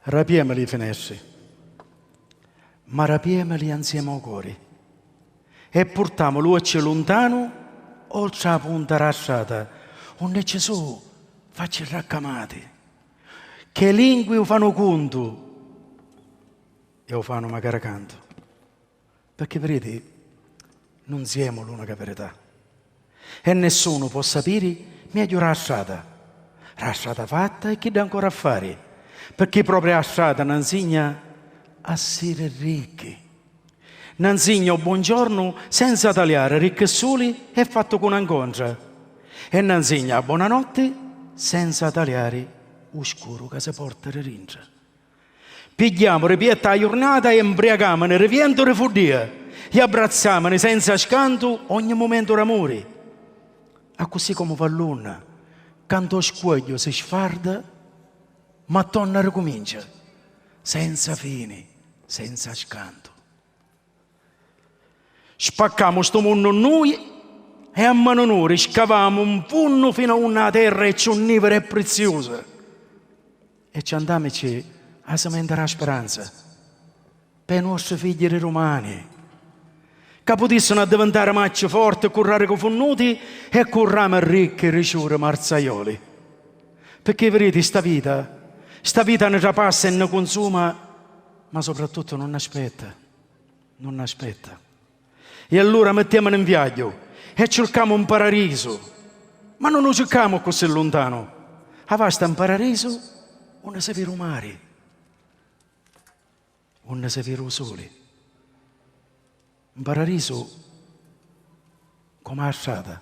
Rapiemi li finestri, ma rapiemili anziemi ô cori e purtamu l'uocchi luntanu oltra â punta dâ strata unni ci su' facci raccamati ch'ê lingui u fanu cuntu e u fanu macari cantu. Pecchè viriti, nun siemu l'unica virità. E nessunu po' sapiri megghiu ra strata, ra strata fatta e chidda ancora a fari, pecchè propria ra strata na 'nsigna a siri ricchi, na 'nsigna o buongiornu senza taliari ricchi suli e fattu cu na 'ncontra e na 'nsigna a bonanotti senza taliari u scuru ca si porta di dintra. Pigghiamu ri pietta 'a jurnata e 'mbriacamuni ri vientu ri fuddia e abbrazzamuni senza scantu ogni mumentu d'amuri. Accussì comu vallunna ca 'nto scuogliu si sfarda ma tonna ricumincia senza fini, senza scantu. Spaccamu stu munnu nui e a manu nuri scavamu 'n funnu finu a unni 'a terra è ciù nivira e priziusa e ci andamici a simentari 'a speranza pê nuostri figghi di dumani ca putissinu addivintari macci forti cu rarichi funnuti e cu rami ricchi di ciuri marzaioli. Pirchì, viriti, sta vita, sta vita ni trapassa e ni cunsuma Ma soprattuttu nun aspetta, nun aspetta. E allura mettiamuni 'n viagghiu e circamu 'n pararisu, ma nun 'u circamu accussì luntanu, avasta 'n pararisu unni si viri 'u mari, unni si viri 'u suli. 'n pararisu comu 'a strata.